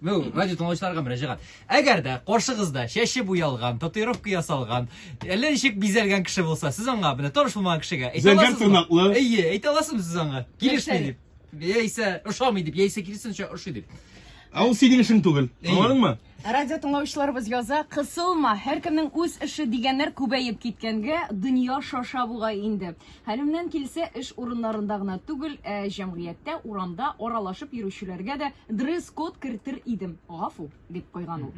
Бу радио тыңлаучыларга мөрәҗәгать. Әгәр дә каршыгызда чәче буялган, татуировка ясалган, әллә ничек бизәлгән кеше булса, сез аңа менә таныш булмаган кешегә әйтә Зәңгәр аласызмы? тырнаклы. Әйе, әйтә аласызмы сез аңа? Килешми Нәрсә? дип. Яисә ошамый дип, яисә киресенчә ошый дип. Ә ул синең эшең түгел. Әйе. Аңладыңмы? Радио тыңлаучыларыбыз яза, кысылма, һәркемнең үз эше дигәннәр күбәеп киткәнгә, дөнья шаша бугай инде. Хәлемнән килсә, эш урыннарында гына түгел, ә җәмгыятьтә, урамда аралашып йөрүчеләргә дә дресс-код кертер идем, гафу, дип куйган ул.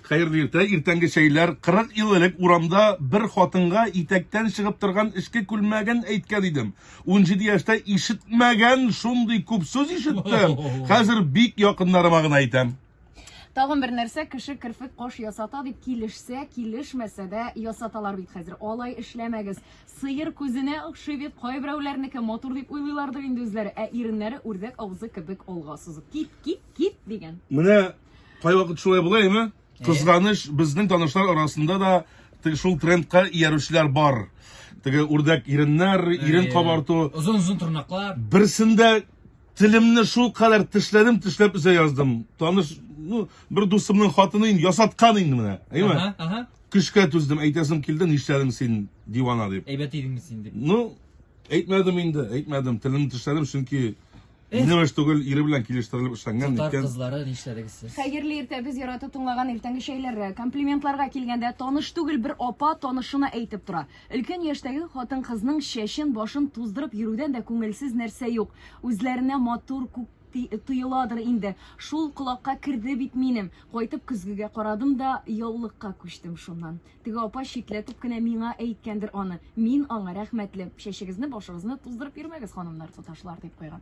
Хәерле иртә, иртәнге чәйләр. 40 ел элек урамда бер хатынга итәктән чыгып торган эчке күлмәген әйткән идем. 17 яшьтә ишетмәгән шундый күп сүз ишеттем, хәзер бик якыннарыма гына әйтәм. Тагын бер нәрсә, кеше керфек кош ясата дип килешсә, килешмәсә дә ясаталар бит хәзер. Алай эшләмәгез. Сыер күзенә охшый бит, кайберәүләрнеке матур дип уйлыйлардыр инде үзләре, ә иреннәре үрдәк авызы кебек алга сузып. Кит, кит, кит дигән. Менә кайвакыт шулай була име? Кызганыч, безнең танышлар арасында да теге шул трендка иярүчеләр бар. Теге үрдәк иреннәр, ирен кабарту. Озын-озын тырнаклар. Берсендә Телемне шул кадәр тешләдем, тешләп үзә яздым. Таныш, ну, бер дусымның хатыны инде ясаткан инде менә. Әйме? Ага, ага. Көчкә түздем, әйтәсем килде, нишләдең син, дивана дип. Әйбәт идеңме син дип. Ну, әйтмәдем инде, әйтмәдем. Телемне тешләдем, чөнки минем эш түгел, ире белән килештерелеп эшләнгән Татар икән. кызлары нишләдегез сез? Хәерле иртә без яратып тыңлаган иртәнге чәйләргә. Комплиментларга килгәндә, таныш түгел бер апа танышына әйтеп тора. Өлкән яшьтәге хатын-кызның чәчен, башын туздырып йөрүдән дә күңелсез нәрсә юк. Үзләренә матур, күк тоеладыр инде. Шул колакка керде бит минем. Кайтып көзгегә карадым да, яулыкка күчтем шуннан. Теге апа читләтеп кенә миңа әйткәндер аны. Мин аңа рәхмәтле. Чәчегезне, башыгызны туздырып йөрмәгез, ханымнар, туташлар, дип куйган.